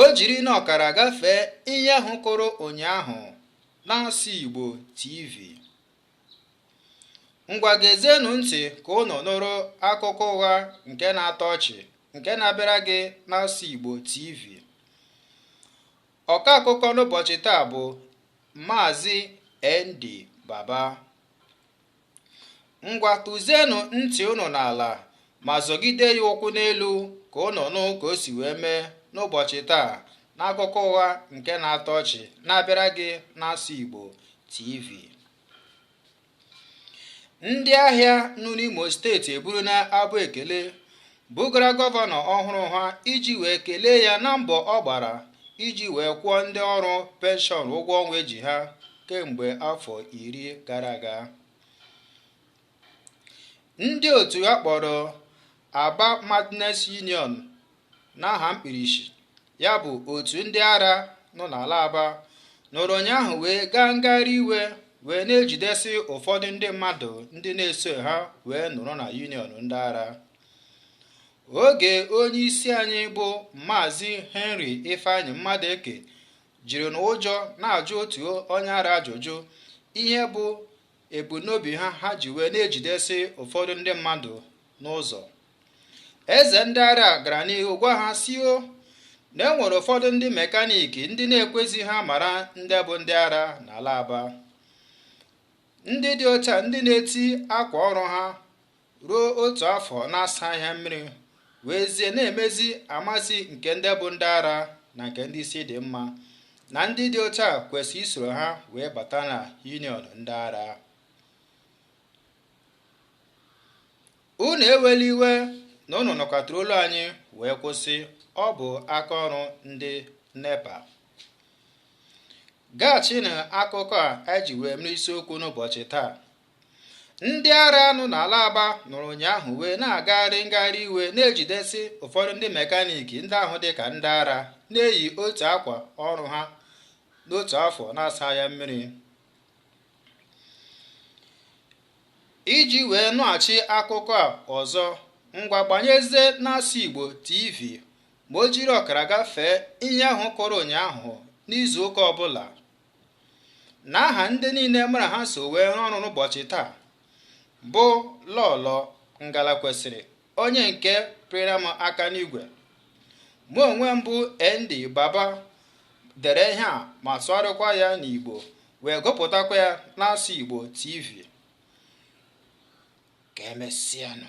o jiri na ọkara gafee ihe ahụ kụrụ ụnyaahụ n'asụ Igbo TV ngwa gezienụ ntị ka unu nụrụ akụkọ ụgha nke na-atọ ọchị nke na-abịara gị n'asụ Igbo TV ọka akụkọ n'ụbọchị taa bụ Maazị ND Baba ngwa tụzienụ ntị unu n'ala ma zọgide ya ụkwụ n'elu ka unu nụ ka o si wee mee n'ụbọchị taa n'akụkọ ụgha nke na-atọ ọchị na-abịara gị n'asụ Igbo TV ndị ahịa nọ n'Imo steeti eburu na abụ ekele bugara gọvanọ ọhụrụ ha iji wee kelee ya na mbọ ọ gbara iji wee kwụọ ndị ọrụ penshọn ụgwọ ọnwa e ji ha kemgbe afọ iri gara aga ndị otu a kpọrọ Aba Madness Union n'aha mkpirisi ya bụ otu ndị ara nọ n'ala Aba nọrọ ụnyaahụ wee gaa ngagharị iwe wee na-ejidesi ụfọdụ ndị mmadụ ndị na-eso ha wee nọrọ na yuniọn ndị ara oge onye isi anyị bụ maazị henry ifeanyị mmadụeke jiri na ụjọ na-ajụ otu onye ara ajụjụ ihe bụ ebumnobi ha ha ji wee na-ejidesi ụfọdụ ndị mmadụ n'ụzọ eze ndị ara gara n'ihu gwa ha sio na e nwere ụfọdụ ndị mekaniki ndị na-ekwezi ha mara ndị bụ ndị ara n'ala aba ndị dị otu a ndị na-eti akwa ọrụ ha ruo otu afọ na-asaghị ya mmiri weezie na-emezi amazi nke ndị bụ ndị ara na nke ndị isi dị mma na ndị dị otu a kwesịrị isoro ha wee bata na union ndị ara unu ewela iwe na unu nụkatara olu anyị wee kwụsị ọ bụ aka ọrụ ndị nepa gaghachi n'akụkọ a e ji wee mere isiokwu n'ụbọchị taa ndị ara nọ n'ala aba nọrọ ụnyaahụ wee na-agagharị ngagharị iwe na-ejidesi ụfọdụ ndị mekaniki ndị ahụ dị ka ndị ara na-eyi otu akwa ọrụ ha n'otu afọ na-asa ya mmiri iji wee nụghachi akụkọ a ọzọ ngwa gbanyezie n'asụ igbo tv ma o jiri ọkara gafee ihe ahụ kụrụ ụnyaahụ n'izu ụka ọbụla na aha ndị niile mụ na ha so wee rụọ ọrụ n'ụbọchị taa bụ lọlọ ngalakwesịrị onye nke pịara m aka n'igwe mụ onwe m bụ nd baba dere ihe a ma sụgharịkwa ya n'igbo wee gụpụtakwa ya n'asụ igbo tv ka emesịanụ